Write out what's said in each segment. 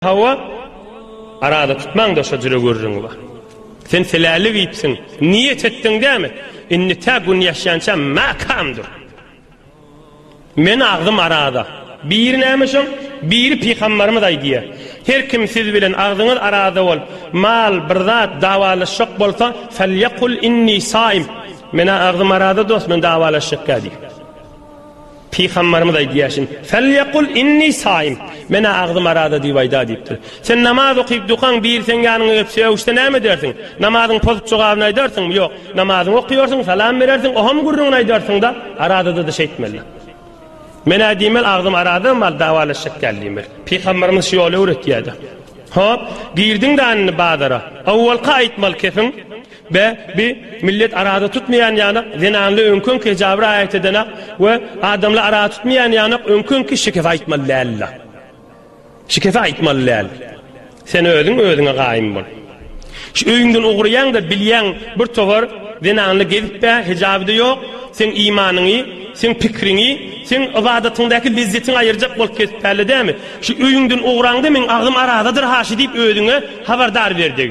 Hawa, arada tutmaň-da şo jüre gürrüňi bar. Sen seläli giyipsiň, niýet etdiň dämi? Indi tä gün ýaşýança mäkäm dur. Meniň agzym arada. Biri näme şoň, biri pygambarymyz aýdýar. Her kim siz bilen agzyňyz arada bolup, mal, bir zat, dawalaşjak bolsa, Felýekul inni saim. Menä agzym arada dost, men dawalaşjakka diýip. Pygamberimiz aýdýar şin. Felyakul inni saim. Menä agzym araza diýip aýda diýipdir. Sen namaz okyp dukaň bir seň ýanyňa gelip sögüşse näme edersiň? Namazyň pozup jogabyny aýdarsyňmy? Ýok. Namazyňy okýarsyň, salam berersiň, oham gürrüňini aýdarsyňda, arazada-da şeýtmeli. Menä diýmeli agzym araza mal dawalaşjak däl diýmeli. Pygamberimiz şu ýoly öwretýärdi. Hop, girdiň-de anny bazara. Awwalka aýtmaly kepiň. Be, bi, millet araza tutmaýan ýanak, zenanly öňki-öňki hejaba raýat edenak we adamly araza tutmaýan ýanak öňki-öňki şikese aýtmaly däldi-la. Şikese aýtmaly däl. Sen özüň özüňe gaýym bol. Şu öýüňden ugraýaň-da, bilýäň, bir towar zenanly gezip-ä, hejaby-da ýok, seň imanyňy, seň pikriňi, seň ybadatyňdaky lezzetiňi aýyrjak bolup kesip-älledämi? Şu öýüňden ugraň-da, meň agzym arazadyr-ha şu diýip özüňe habardar ber deg.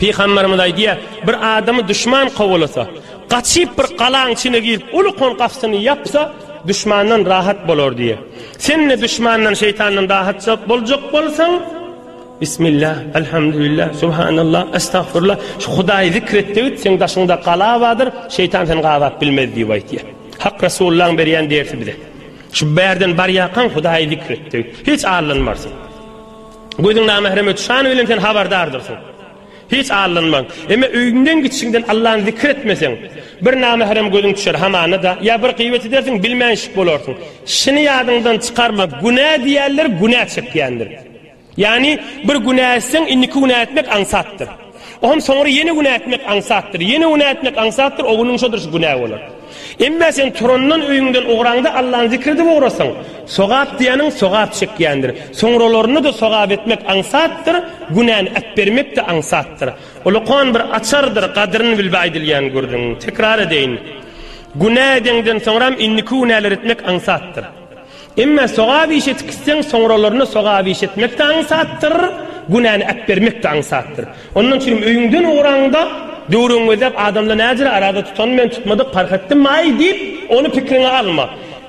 Pygamberimiz aýdýar, bir adamy duşman kowalasa, gaçyp bir galaň içine girip, uly kon gapysyny ýapsa, duşmandan rahat bolar diýýär. Sen-de duşmandan, şeýtandan rahat boljak bolsaň, Bismillah, Elhamdülillah, Subhanallah, Estagfirullah, şu Hudaýy zikr et diýip, seň daşyňda gala bardyr, şeýtan seni gabap bilmez diýip aýdýar. Hak Resulullahyň berýän dersi bize. Şu bärden barýarkaň Hudaýy zikr et diýip, hiç allanmarsyň. Gözüň namährem öti şany bilen sen habardardyrsyň. Hiç allanmaň. Emma öýüňden gitişiňden Allany zikr etmeseň, bir namährem gözüň düşer hamana-da, ýa bir gybet edersiň, bilmänşik bolarsyň. Şuny ýadyňdan çykarma, günä diýýänler günä çekýändir. Ýagny, bir günä etseň, indiki günä etmek aňsatdyr. Ondan soňra ýene günä etmek aňsatdyr. Ýene günä etmek aňsatdyr, o günüň şodur şu günä bolar. Emma sen turandan öýüňden ugraňda Allany zikr edip ugrasaň, sogap diýeniň sogap çekýändir. Soňralarynda-da sogap etmek aňsatdyr, günäni äpbermek-de aňsatdyr. Ol okan bir açardyr, gadyryny bilbe aýdylýan gürrüň. Tekrar edeýin. Günä edeňden soňram indiki günäleri etmek aňsatdyr. Emma sogap iş etk isseň, soňralaryna sogap iş etmek-de aňsatdyr, günäni äpbermek-de aňsatdyr. Ondan üçinem öýüňden ugraňda, döwregiň gözläp adamlar nädire arada tutanmy men tutmadyk parh etdim-aý diýip, ony pikriňe alma.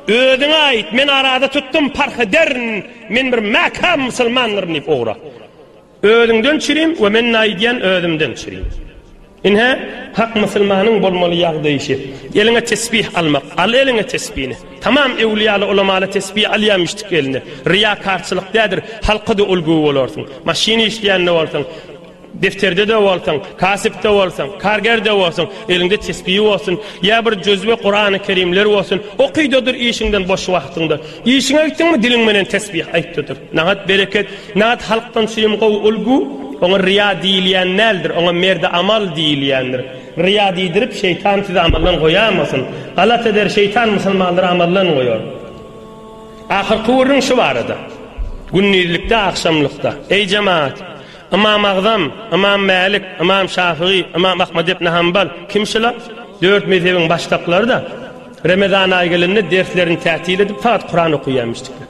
Özüňe aýt, men arada tutdum, parh ederin, men bir mäkäm musulmandyryn diýip ugra. Özüňden çirim we men naýdýan özümden çirim. Ine, hak musulmanyň bolmaly ýagdaýy şe. Eliňe tesbih almak, al eliňe tesbini. Tamam ewliýaly ulamaly tesbi alýa miştik eline. Ryýakarçylyk dädir, halka-da ulgy bolarsyň. Maşyn işleýän-de bolsaň, defterde-de bolsaň, kasyp-da bolsaň, karger-de bolsaň, eliňde tesbi bolsun, ýa bir juzwe Kurany Kerimler bolsun, okyda dur işiňden boş wagtyňda. Işiňe gitdiňmi diliň menen tesbih aýtda dur. Nagt bereket, nagt halkdan çyn gowy ulgu, oňa ryýa diýilýän däldir, oňa merdi amal diýilýändir. Ryýa diýdirip, şeýtan sizi amaldan goýamasyn. Galat eder, şeýtan musulmanlary amaldan goýar. Ahyrky gürrüň şu barada. Gündizlikde, agşamlykda, Eý jemaat! Ymam Agzam, Ymam Mälik, Ymam Şafygy, Ymam Ahmad ibn Hambal, kim şular? Dört mezhebiň başdaklary-da, Remezan aýy gelende derslerini tätil edip, fagt Kuran okaýarmyşdyklar.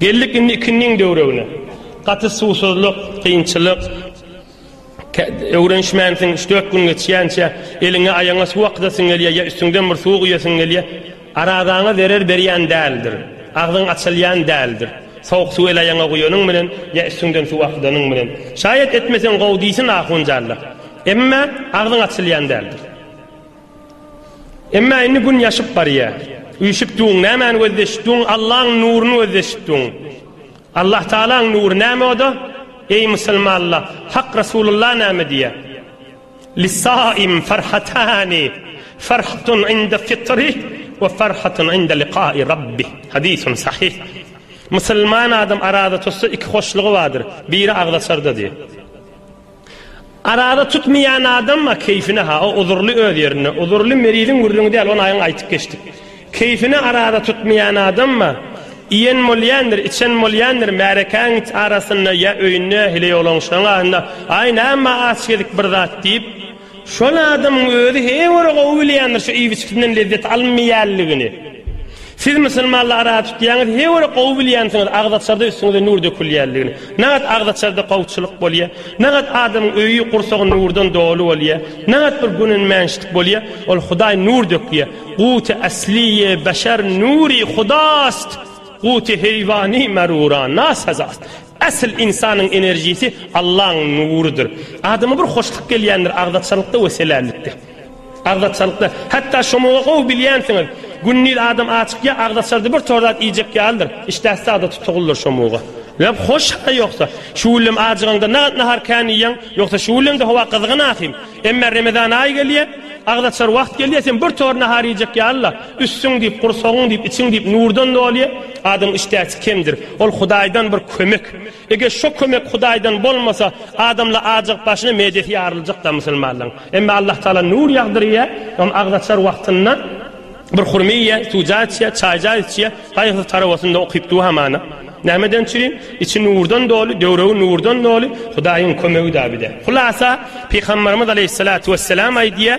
Geldik indi ikindiň döwregine. Gaty suwsuzlyk, kynçylyk. Öwrenişmänsiň, üç-dört gün geçýänçä eliňe, aýagyňa suw akydasyň gelýär ýa üstüňden bir suw guýasyň gelýär. Arazaňa zerer berýän däldir. Agzyň açylýan däldir. Sowuk suw el-aýagyňa guýanyň bilen ýa üstüňden suw akydanyň bilen. Şaýat etmeseň gowy diýsin ahunjalla. Emma agzyň açylýan däldir. Emma indi gün ýaşyp barýar. Üýşüpdiň, nämäni gözleşipdiň? Allaň nuruny gözleşipdiň. Allah Tagalaň nury näme o-da? Eý musulmanlar, Hak Resulullah näme diýýär? Lis-saim farhatani, farhatun inde fitri we farhatun inde liqa'i Rabbi. Hadysun sahyh. Musulman adam araza tutsa iki hoşlugy bardyr, biri agzaçarda diýýär. Arada tutmaýan adamma keýfine ha o uzurly öz ýerinde uzurly meriziň gürrüňi däl ony aýyň aýtyp geçdik. Keýfine arada tutmaýan adamma iýen bolýandyr içen bolýandyr märekäň it arasynda ýa öýünde heleýoglan şoň aýynda aý näme aç gezik bir zat diýip Şol adamyň özi hee göre gowy bilýändir şu iýip içgisinden lezzet alynmaýanlygyny. Siz musulmanla ara tutýaňyz hee göre gowy bilýänsiňiz agzaçarda üstüňize nur dökülýänligini. Nagat agzaçarda gowçulyk bolýa. Nagat adamyň öýi gursagy nurdan doly bolýa. Nagat bir günenmänçlik bolýa. Ol hudaý nur dökýä. Guty asliýe beşer nuri hudast. Guty heýwani merura nasazast. Asyl ynsanyň enerjisi Allaň nurudyr. Adama bir hoşluk gelýändir agzaçalykda we selällikde. Agzaçalykda, hatda şomaga gowy bilýänsiňiz, gündiz adam açykýa agzaçardy bir tor zat iýjek ýalydyr, işdäsi sagda tutugyldyr şomaga. Leb hoş ha ýogsa, şu güllem ajygaňda nagat nahar kän iýýäň, ýogsa şu güllemde howa gyzgyn ahym. Emma Remezan aýy gelýä, agzaçar wagt gelýä sen bir tor nahar iýjek ýaly-la. Üstüň diýip, gursagyň diýip, içiň diýip nurdan dolýar. Adam işdäsi kemdir. Ol Hudaýdan bir kömek. Eger şo kömek Hudaýdan bolmasa, adamlar ajygyp başyna medesi ýaryljak-da musulmanlaryň. Emma Allahtagala nur ýagdyrýar. Ol agzaçar wagtynda bir hurma iýýär, suwja içýär, çaýja içýär. Gaýgysyz tarabasynda okyp duwa hamana. Nämeden çürin? Içi nurdan doly, döwregi nurdan doly. Hudaýyň kömegi-dä bir-de. Hulasa, Pygamberimiz aleýhissalatu wesselam aýdýar,